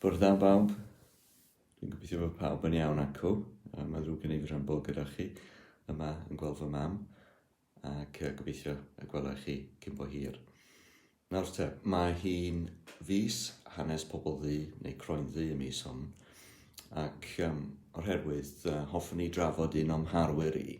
Bore da bawb. Dwi'n gobeithio bod pawb yn iawn acw. Mae ddrwg gen i fy rhan bod gyda chi yma yn gweld fy mam ac gobeithio y gwelai chi cyn bo hir. Nawr te, mae hi'n fus hanes pobl ddu neu croen ddu y mis hon ac um, o'r herwydd uh, hoffwn i drafod un o'm harwyr i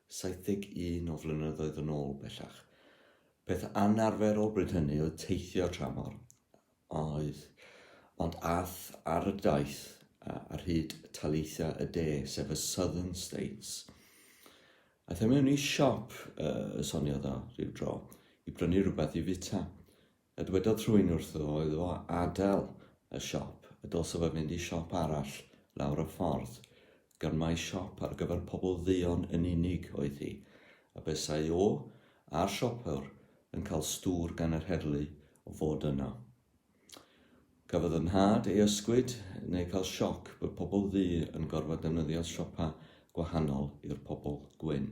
71 o flynyddoedd yn ôl bellach. Peth anarferol bryd hynny oedd teithio tramor, oedd, ond ath ar y daith ar hyd taleithiau y de, sef y Southern States. Aeth e mewn i siop, uh, soniodd o rhyw dro, i brynu rhywbeth i fita. A dwedodd rhywun wrtho oedd o adael y siop, y dylsa fo fynd i siop arall lawr y ffordd, gan mai siop ar gyfer pobl dduon yn unig oedd hi, a buasai o a'r siopwr yn cael stŵr gan yr heddlu o fod yno. Cafodd fy nhad ei ysgwyd neu cael sioc bod pobl ddu yn gorfod defnyddio siopa gwahanol i'r pobl gwyn.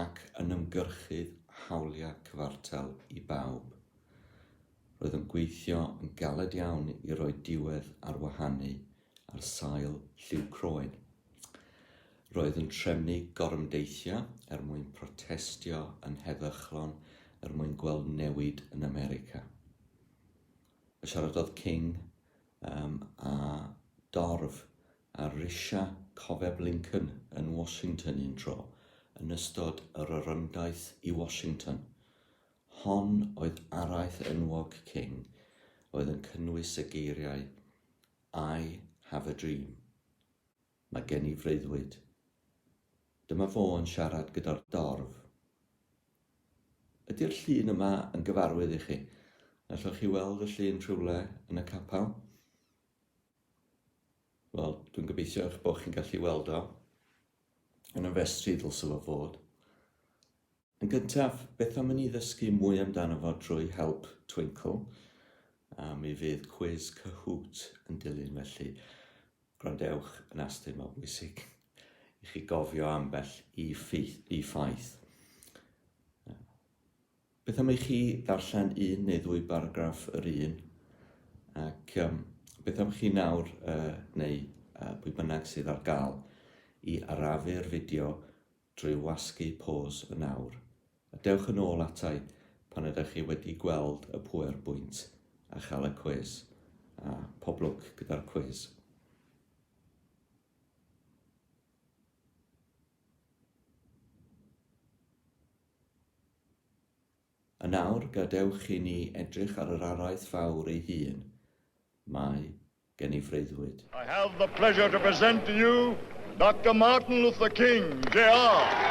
ac yn ymgyrchu hawliau cyfartal i bawb. Roedd yn gweithio yn galed iawn i roi diwedd ar wahanu ar sail lliw croen. Roedd yn trefnu gorymdeithio er mwyn protestio yn heddychlon er mwyn gweld newid yn America. Y siaradodd King um, a dorf ar risiau Cofeb Lincoln yn Washington un tro yn ystod yr orymdaith i Washington. Hon oedd araith enwog King oedd yn cynnwys y geiriau I have a dream. Mae gen i freuddwyd. Dyma fo yn siarad gyda'r dorf. Ydy'r llun yma yn gyfarwydd i chi? Allwch chi weld y llun rhywle yn y capel? Wel, dwi'n gobeithio eich bod chi'n gallu weld o. Yn y festri ddylse fo fod. Yn gyntaf, beth am i ni ddysgu mwy amdano fo drwy help Twinkle? A mi fydd cwiz cyhwt yn dilyn felly. Gwrandewch yn astyn, mae'n bwysig i chi gofio ambell i, ffeith, i ffaith. Beth am i chi ddarllen un neu ddwy baragraff yr un, ac um, beth am chi nawr, uh, neu uh, pwy bynnag sydd ar gael, i arafu'r fideo drwy wasgu pos yn awr. A dewch yn ôl atai pan ydych chi wedi gweld y pwer bwynt a chael y cwis. A pob lwc gyda'r cwis. Yn awr, gadewch i ni edrych ar yr araith fawr ei hun. Mae gen i freuddwyd. I have the pleasure to present to you Doctor Martin Luther King, Jr.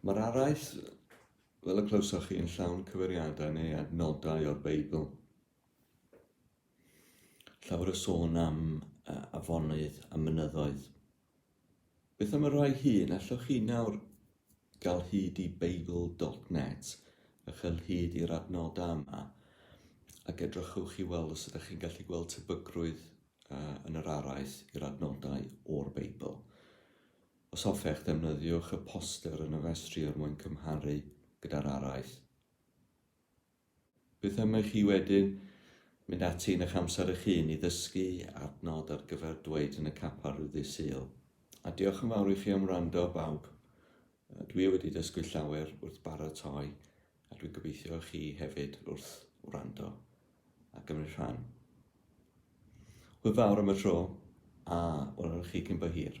Mae'r araith, fel y clywsoch chi, yn llawn cyfeiriadau neu adnodau o'r Beibl. Llawer o sôn am uh, afonydd a mynyddoedd. Beth am y rhai hun? Allwch chi nawr gael hyd i beibl.net a chael hyd i'r adnodau yma ac edrychwch i weld os ydych chi'n gallu gweld tebygrwydd uh, yn yr araith i'r adnodau o'r Beibl. Os hoffech, defnyddiwch y poster yn y festri er mwyn cymharu gyda'r araith. Beth am i chi wedyn mynd ati yn eich amser eich hun i ddysgu adnod ar gyfer dweud yn y capel rhyw ddydd Sul. A diolch yn fawr i chi am wrando, bawb. Dwi wedi dysgu llawer wrth baratoi a dwi'n gobeithio chi hefyd wrth wrando a gymryd rhan. Hwyl fawr am y tro, a welwn chi cyn bo hir.